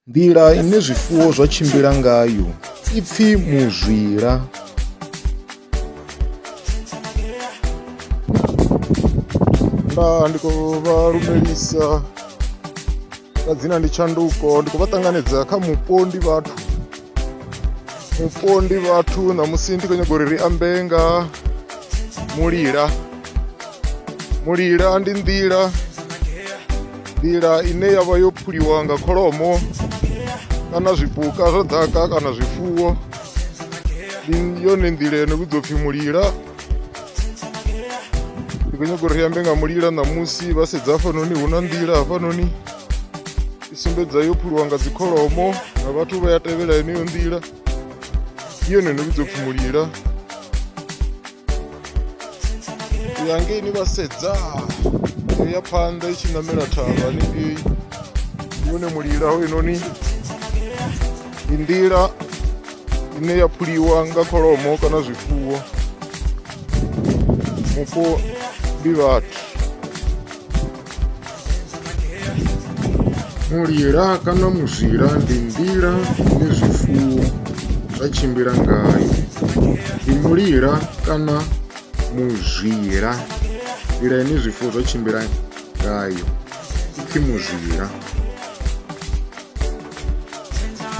Nḓila ine zwifuwo zwa tshimbila ngayo i pfi muzwila. Nda ndi khou vha lumelisa nga dzina ndi Tshanduko ndi khou vha ṱanganedza kha mupo ndi vhathu mupondi vhathu ṋamusi ndi khou nyaga uri ri ambe nga mulila mulila ndi nḓila nḓila ine ya vha yo phuliwa nga kholomo kana zwipuka zwa ḓaka kana zwifuwo ndi yone nḓila yo no vhidzwa pfhi mulila ndi khou nyaga uri ri ambe nga mulila ṋamusi vha sedza hafhanoni hu na nḓila hafhanoni i sumbedza yo phuluwa nga dzikholomo na vhathu vha ya tevhela yeneyo nḓila i yone no vhidzo pfhi mulila u ya ngei ni vha sedza yo ya phanḓa i tshi ṋamela thavha hanengei yone mulila ho inoni ndi nḓila ine ya phuliwa nga kholomo kana zwifuwo mupo ndi vhathu Mulila kana muzwila ndi nḓila ine zwifuwo zwa tshimbila ngayo. Ndi mulila kana muzwila nḓila ine zwifuwo zwa tshimbila ngayo ipfhi muzwila.